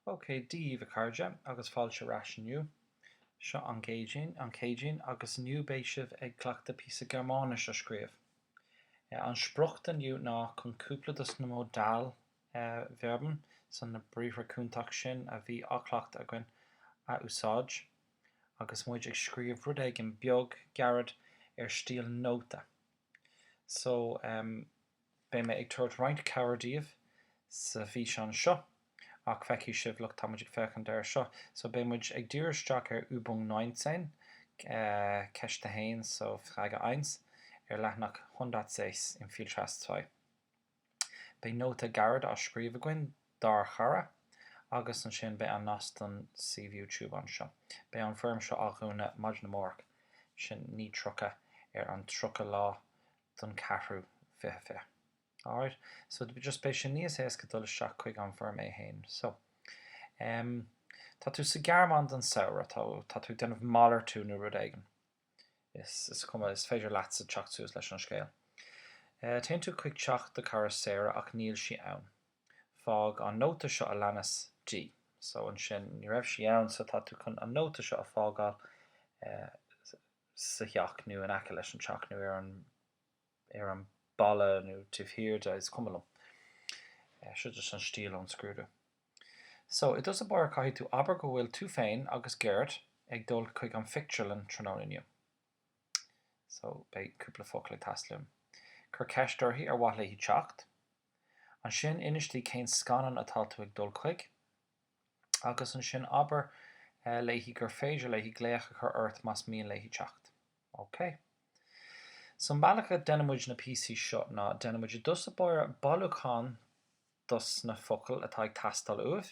OK, Dia daoibh, a chairde, agus fáilte ar ais inniu. Seo an Céadaoin, an Chéadaoin, agus inniu beidh sibh ag cleachtadh píosa Gearmáinis a scríobh. An sprioc do inniu ná chun cúpla dos na Modalverben, so na briathra cúnta sin a bhí á chleachtadh againn, a úsáid agus muid ag scríobh rud éigin beag, gairid, ar stíl nóta. So, eh. Beidh mé ag tabhairt roinnt cabhair díbh sa bhfíseán seo, ach feicfidh sibh nuair atá muid ag féachaint air seo. So beidh muid ag díriú isteach ar Übung 19, Ceist 1, so Frage 1, ar leathanach 106 in Viel Spaß 2. Beidh nóta gairid á scríobh againn dár chara, agus ansin beidh an nasc don suíomh YouTube anseo. Beidh an foirm seo á dhúnadh maidin amárach, sin 9:30, ar an 30 lá don ceathrú fiche fiche. Alright. So just beidh sé níos éasca dul isteach chuig an bhfoirm é féin. So. em. tá tú sa Ghearmáin don samhradh, tá, tá tú ag déanamh malartú nó rud éigin. Is, is cuma, is féidir leatsa teacht suas leis an scéal. Eh, téann tú chuig teach do cara Sarah ach níl sí ann. Fág an nóta seo a leanas di. So ansin, ní raibh sí ann so tá tú chun an nóta seo a fágáil eh, sa theach nó in aice leis an teach nó ar an, ar an balla nó taobh thiar de, is cuma liom. So just an stíl ón scrúdú. So, i dtús báire caithfidh tú abair go bhfuil tú féin agus Gerd ag dul chuig an phictiúrlann tráthnóna inniu. So, beidh cúpla focal ag teastáil uaim. Cuir ceist uirthi ar mhaith léi teacht. Ansin, inis di cén scannán atá tú ag dul chuig. agus ansin abair léi gur féidir léi glaoch a chur ort más mian léi teacht. OK. So an bealach a deineann muid na píosaí seo ná déanann muid i dtús báire bailiúchán dos na focail atá ag teastáil uaim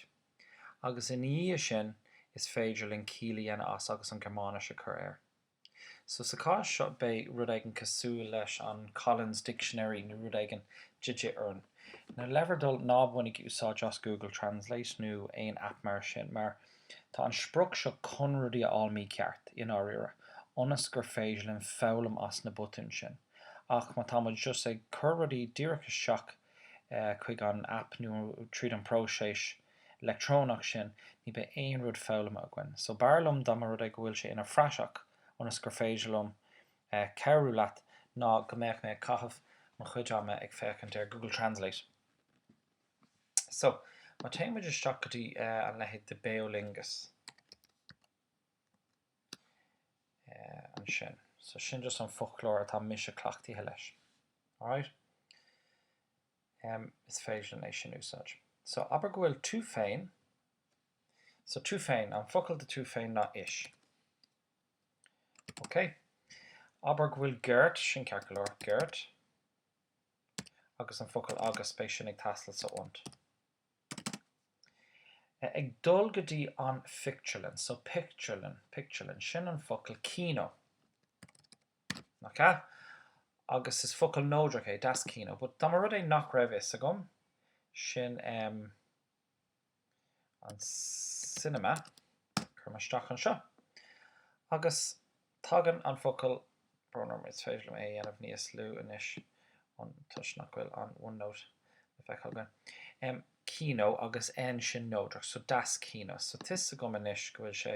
agus ina dhiaidh sin is féidir linn ciall a dhéanamh as agus an Gearmáinis a chur air. So sa chás seo beidh rud éigin cosúil leis an Collins Dictionary nó rud éigin de dhíth orainn. Le bhur dtoil ná bainigí úsáid as Google Translate nó aon aip mar sin mar tá an sprioc seo chun rudaí a fháil mícheart, i ndáiríre, ionas gur féidir linn foghlaim as na botúin sin. Ach má tá muid just ag cur rudaí díreach isteach chuig an aip nó tríd an próiseas leictreonach sin, ní beidh aon rud foghlamtha againn. So b'fhearr liom dá mba rud é go bhfuil sé ina phraiseach ionas gur féidir liom cabhrú leat ná go mbeadh mé ag caitheamh mo chuid ama ag féachaint ar Google Translate. So, má théann muid isteach go dtí an leithéid de Beolingus ansin. So sin just an foclóir atá mise cleachtaithe leis. Alright? M, Is féidir linn é sin úsáid. So, abair go bhfuil tú féin, so tú féin, an focal do tú féin ná ich. Ok. Abair go bhfuil Gert, sin ceart go leor, Gert, agus an focal agus, beidh sin ag teastáil so und. Eh, ag dul go dtí an phictiúrlann, so pictiúrlann, pictiúrlann, sin an focal kino. Nach ea? Agus is focal neodrach é das Kino, but dá mba rud é nach raibh fhios agam, sin, em, an cinema, cuirim isteach anseo. Agus tagann an focal brón orm, is féidir liom é a dhéanamh níos lú anois, an, toisc nach bhfuil an OneNote le feiceáil againn. Em, kino agus N sin neodrach, so das Kino. So, tá fhios agam anois go bhfuil sé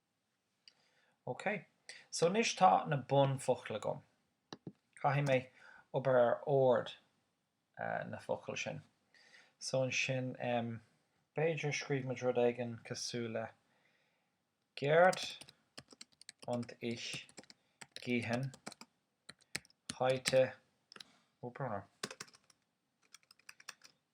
OK, so anois tá na bunfhocail agam. Caithfidh mé obair ar ord na focail sin. So ansin, b'fhéidir scríobh muid rud éigin cosúil le Gerd und ich gehen heute, oh brother,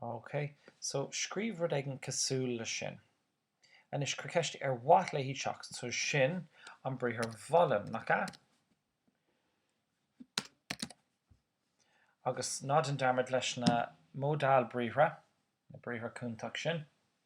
OK, so scríobh rud éigin cosúil leis sin. Anois, cuir ceist ar mhaith léi teacht, so sin an briathar wollen, nach ea? Agus ná déan dearmad leis na modal briathra, na briathra cúntach sin.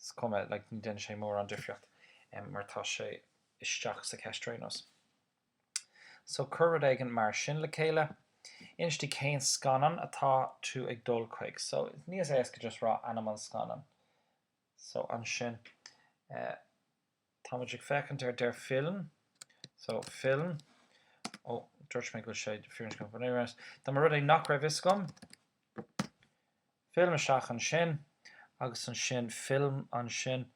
is cuma, like ní dhéanann sé mórán difríocht mar tá sé isteach sa cheist ar aon nós. So cuir rud éigin mar sin le chéile, inis di cén scannán atá tú ag dul chuig. So níos éasca just rá ainm an scannáin. So ansin, Tá muid ag féachaint ar Der Film, so film. Ó, dúirt mé go bhfuil sé firinscneach go bhfuil sé. Dá mba rud é nach raibh fhios agam. Film isteach ansin agus ansin film ansin.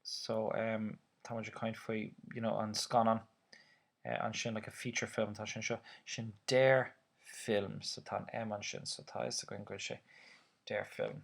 So, em, tá muid ag caint faoi, you know, an scannán ansin, like a feature film, tá sin seo. Sin Der Film, so tá an M ansin, so tá fhios againn go bhfuil sé Der Film.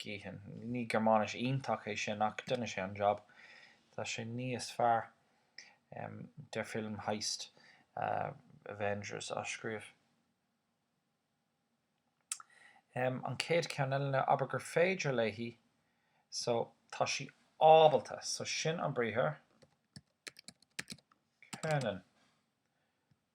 Gehen. Ní Gearmáinis iontach é sin ach rinne sé an jab. Tá sé níos fearr der Film heißt Avengers á scríobh. An chéad ceann eile ná abair gur féidir léi so tá sí ábalta so sin an briathar können.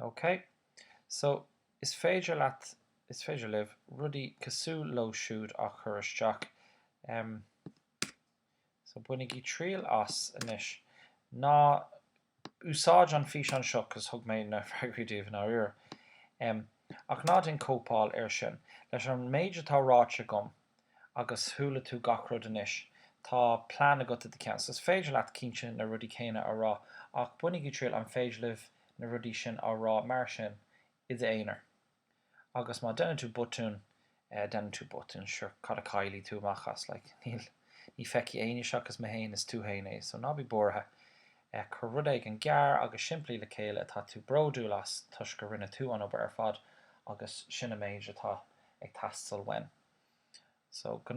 OK, so is féidir leat, is féidir libh, rudaí cosúil leo siúd á chur isteach. Em, so bainigí triail as. Anois, ná húsáid an físeán seo cos thug mé na freagraí daoibh i ndáiríre. Em. Ach ná déan cóipeáil air sin. Leis an méid atá ráite agam, agus chuala tú gach rud anois, tá plean agat i do cheann. So is féidir leat, cinnte, na rudaí céanna a rá, ach bainigí triail, an féidir libh na rudaí sin a rá mar sin i d'aonar? Agus má deineann tú botún, má dhéanann tú botún sure cad a chaillfidh tú amach as like ní fheicfidh éinne seachas mé féin is tú féin é so ná bí buartha eh cuir rud éigin gearr agus simplí le chéile atá tú bródúil as toisc go rinne tú an obair ar fad agus sin an méid atá ag teastáil uaim so go